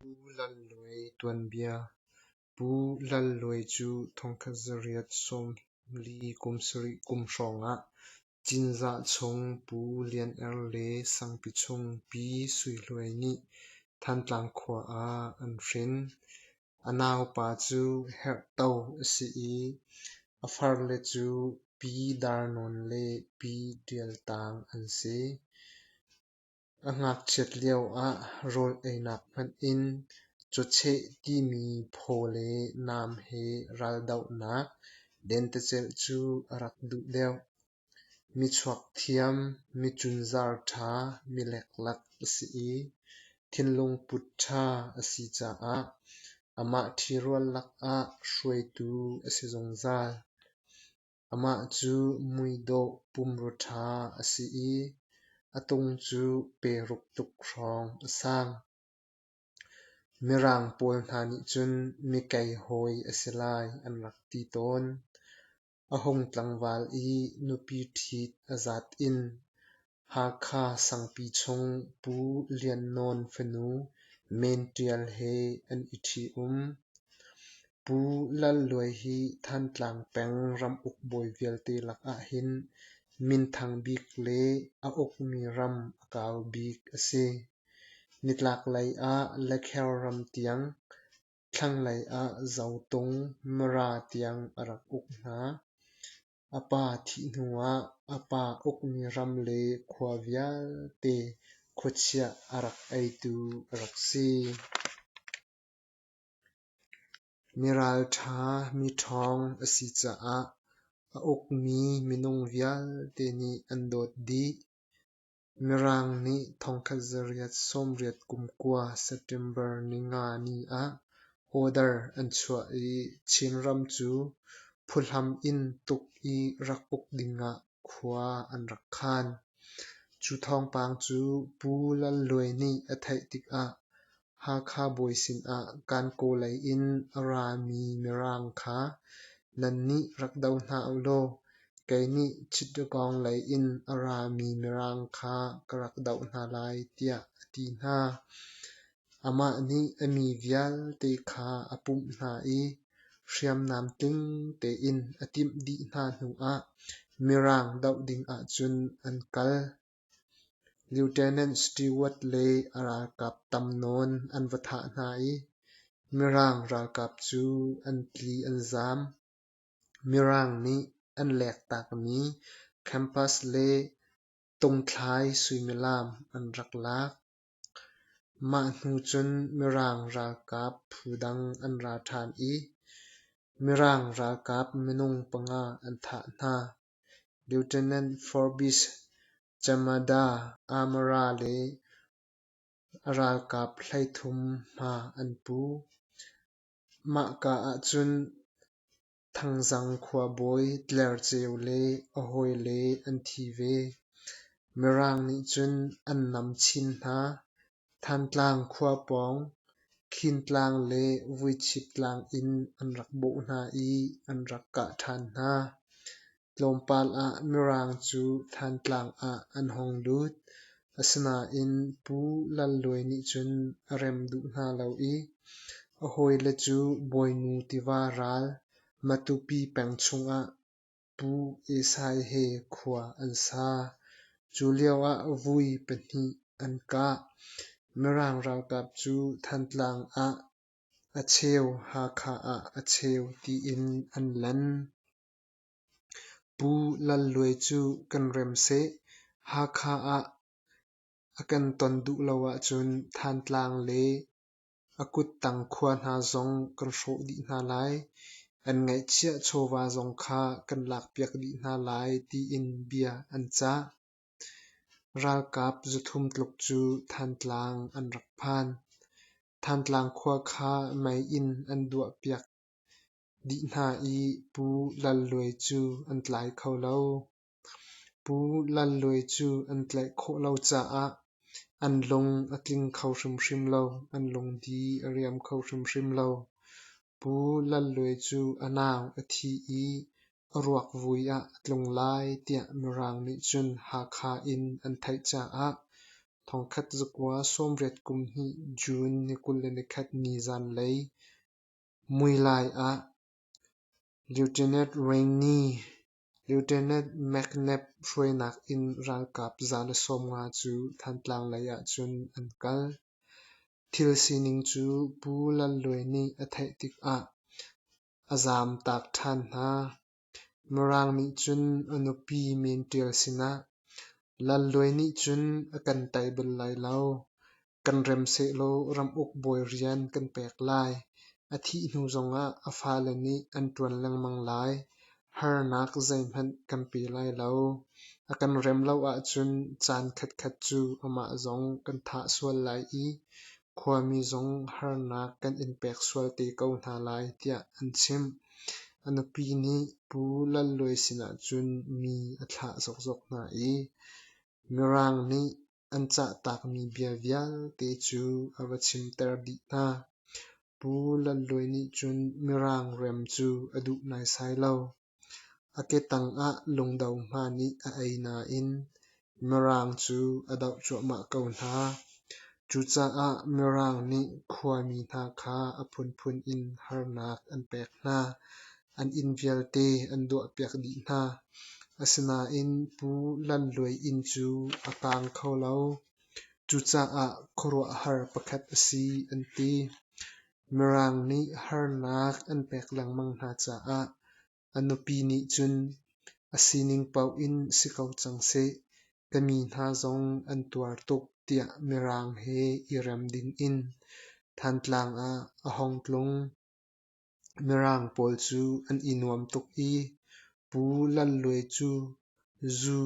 Pu Lal Luai tuanbia Pu Lal Luai cu thongkhat zarih sawm li kum sarih kum hrawngah Cinzah chung Pu Lian Er le Sangpi chung Pi Sui Luai nih Thantlang khua ah an hrin. A naupa cu herhto a si i a farle cu Pi Dar Nawn le Pi Ṭial Tang an si. A ngakchiat lio ah rawl einak hmanh in cawcheh timi phaw le naam he raldohnak dentecelh cu a rak duh deuh. Mi chuak thiam, mi cunzar ṭha, mi leklak a si i thinlung put ṭha a si caah amah ṭhi rual lakah hruaitu a si zungzal. Amah cu muidawh pumru ṭha a si i a tung cu peruk tluk hrawng a sang. Mirang pawl hna nih cun mikei hawi a si lai an rak ti tawn. A hung tlangval i nupi ṭhit a zat in Hakha Sangpi chung Pu Lian Nawn fanu Men Ṭial he an i ṭhi-um. Pu Lal Luai hi Thantlang peng ramuk bawi vialte lakah hin minthang bik le a ukmi ram a kau bik a si. Nitlaklei ah Lekhel ram tiang, thlanglei ah Zotung, Mara tiang a rak uk hna. A pa thih hnuah a pa ukmi ram le khua vialte khuachiah a rak eitu a rak si. Mi ralṭha, mi ṭhawng a si caah a ukmi minung vialte nih an dawt dih. Mirang nih thongkhat zarriat sawmriat kum kua September ningani ah order an chuah i Chinram cu phuhlam in tuk i rak uk dingah khua an rak khan. Cu thawngpang cu Pu Lalluai nih a theih tikah Hakha bawi sinah Kankawlei in a rami Mirang kha nan nih rak do hna u law kei nih Chittipawng lei in a rami Mirang kha ka rak doh hna lai tiah a ti hna. Amah nih a mi vialte kha a pumh hna i hriamnam tling tein a timh dih hna hnuah Mirang doh dingah cun an kal. Lieutenant Stewart le a ralkap tam nawn an va thah hna i Mirang ralkap cu an tli an zaam. Mirang nih an lektakmi campus le tungthlai suimilam an rak lak. Mah hnu cun Mirang ralkap phu dang an ra ṭhan i Mirang ralkap minung panga an thah hna. Lieutenant Forbes Chamada Amara le a ralkap hleithum hma an pu. Mahka ahcun Thangzang khuabawi Tler Ceu le a hawile an thi ve. Mirang nih cun an nam chin hna. Thantlang khua pawng Khintlang le Vuichip tlang in an rak bawh hna i an rak kah ṭhan hna. Tlawmpal ah Mirang cu Thantlang ah an hong lut. Asinain Pu Lal Luai nih cun a rem duh hna lo i a hawile cu Bawinu tiva ral Matupi peng chungah Pu Esai he khua an sa. Cu lioah vui pahnih an kah. Mirang ralkap cu Thantlang ah a cheu Hakha ah a cheu tiin an lan. Pu Lal Luai cu kan rem seh. Hakha ah a kan ton duh lo ahcun Thantlang le A kuttang khua hna zong kan hrawh dih hna lai, an ngaihchiah chawva zong kha kan lakpiak dih hna lai tiin bia an cah. Ralkap zuthum tluk cu Thantlang an rak phan. Thantlang khua kha mei in an duahpiak dih hna i Pu Lal Luai cu an tlai kho lo. Pu Lal Luai cu an tlaih khawh lo caah an lung a tling kho hrimhrim lo. An lungdi a riam kho hrimhrim lo. Pu Lal Luai cu a nau a thi i a ruakvui ah a tlung lai tiah Mirang nih cun Hakha in an theih caah thongkhat zakua sawmriat kum hnih June ni kul le nikhat ni zanlei muilai ah Lieutenant Rainey Lieutenant McNabb hruainak in ralkap zana sawmnga cu Thantlang lei ahcun an kal. Thil sining cu Pu Lal Luai nih a theih tikah a zaamtak ṭhan hna. Mirang nih cun a nupi men ṭial sinah, Lal Luai nih cun a kan tei bal lai lo. Kan rem sehlaw ramuk bawi rian kan pek lai. A thih hnu zongah a fale nih an ṭuan lengmang lai. Harnak zeihmanh kan pe lai lo. A kan rem lo ahcun caan khatkhat cu amah zong kan thah sual lai i khuami zong harnak kan in pek sual te ko hna lai tiah an chimh. A nupi nih Pu Lalluai sinah cun mi a thlah zokzok hna i Mirang nih an cah taakmi bia vialte cu a va chimter dih hna. Pu Lalluai nih cun Mirang rem cu a duh naisai lo. A ketang ah lungdo hma nih a ei nain Mirang cu a doh cuahmah ko hna. Cucaah Mirang nih khuami hna kha a phunphun in harnak an pek hna. An inn vialte an duahpiak dih hna, asinain Pu Lan Luai inn cu a kaang kho lo. Cucaah khuaruahhar pakhat a si an ti. Mirang nih harnak an pek lengmang hna caah a nupi nih cun a sining paoh in si ko cang seh, ka mi hna zong an tuar tuk tiah Mirang he i rem ding in Thantlang ah a hong tlung. Mirang pawl cu an i nuam tuk i Pu Lal Luai cu zu,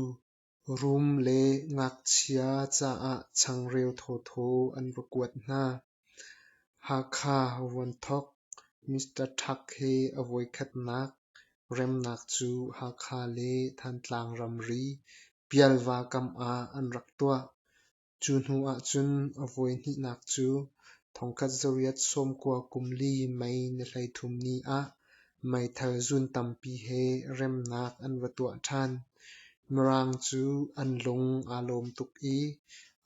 rum le ngakchia caah changreu thawthaw an va kuat hna. Hakha Vuanthok Mister Thak he a voikhatnak remnak cu Hakha le Thantlang ramri Pialva kam ah an rak tuah. Cu hnu ahcun a voihnihnak cu thongkhat zariat sawmkua kum li mei na hleithum ni ah meithal zun tampi he remnak an va tuah ṭhan. Mirang cu an lung aa lawm tuk i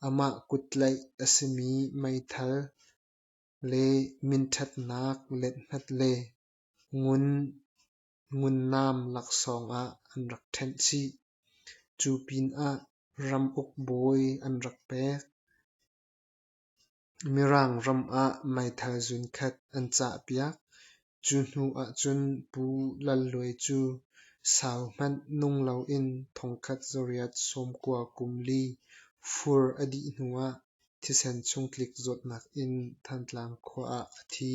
amah kuttlaih a simi meithal le minṭhatnak let-hnat le ngun Ngunnaam laksawng ah an rak ṭhenh chih. Cu pinah ramuk bawi an rak pek. Mirang ram ah meithal zunkhat an cahpiak. Cu hnu ahcun Pu Lal Luai cu sau hmanh nung loin thongkhat zariat sawmkua kum li fur a dih hnuah Thisen chung tlik zawtnak in Thantlang khua ah a thi.